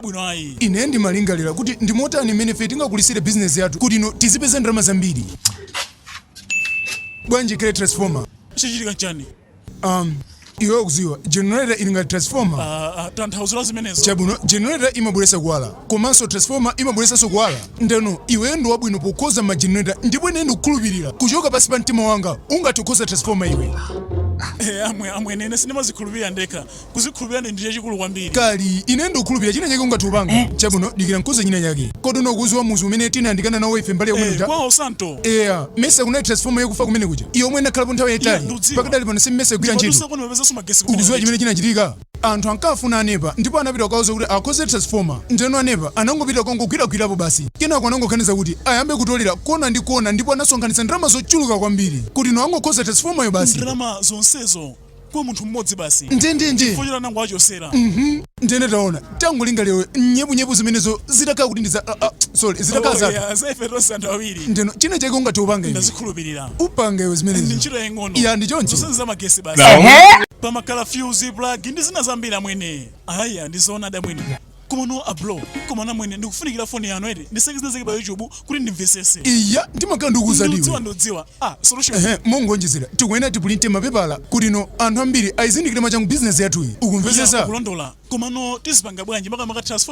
bwino ayi. Ine ndimalingalira kuti ndi motani mmene ife tingakulitsire bizinesi yathu kuti no tizipeza ndalama zambiri. Bwanji kale transformer? Chachitika n'chani? Um, iwe ukudziwa, generator ili ngati transformer. Ah, ah, tanthauzo la zimenezo. Chabwino, generator imabweretsa kuwala, komanso transformer imabweretsanso kuwala. Ndeno, iweyo ndi wabwino pokonza ma generator, ndipo ine ndikukhulupirira kuchoka pansi pa mtima wanga ungathe kukonza transformer iwe. Eh, amwene ine sindimazikhulupirira ndekha. Kuzikhulupirira ndiye chachikulu kwambiri. Kali, ine ndikukhulupirira china chake ungathe kupanga. Eh. Chabwino, dikira nkuze china chake. Kodi ukuziwa muzi umene tinayandikana nawo ife mbali ya kumene Eh, kuja? kwawo Santo. Eya, mesa kunali transformer yakufa kumene kuja. Iyo omwe inakhalapo nthawi Iya, yayitali. ndiudziwa. Pakadali pano si mesa igwira ntchito. Ndimadusa kuno pepeza sumagesi kuno. Ukuziwa chimene chinachitika? Anthu ankafuna anepa ndipo anapita kukauza kuti akonze transformer. Ndeno anepa anangopita kongogwiragwirapo basi. Kenako anangoganiza kuti ayambe kutolera kona ndi kona ndipo anasonkhanitsa ndalama zochuluka kwambiri kuti no angokonza transformer yo basi. Ndalama zonsezo. kwa munthu mmodzi basi Ndi- ndi- ndi. chifukwa choti anangowachosera ndene taona tangolingalira nyebunyebu zimenezo zitakhala kuti ndiza ah, ah, sorry zitakhala zatu Oya, za ife tonse anthu awiri ndeno china chake ungathe kupanga iwe. ndazikhulupirira upange iwe ndi zimenezo ndi ntchito yaying'ono Ya, ndi choncho. zonse zamagesi basi pamakhala fuse plug ndi zina zambiri amwene aya ndizoona damwene Komano a bro koma amwene ndikufunikira foni yanu eti ndicheke zina zake pa yuchubu kuti ndimvesese. Eya ndimakhala ndikukuuza iwe. Ndiudziwa ndiudziwa. Ah solution. Ehe mongonjezera tikuyenera tipulinte mapepala kuti no anthu ambiri ayizindikire machangu business yathuyi ukumvesesa. Kulondola komano tizipanga bwanji makamaka transform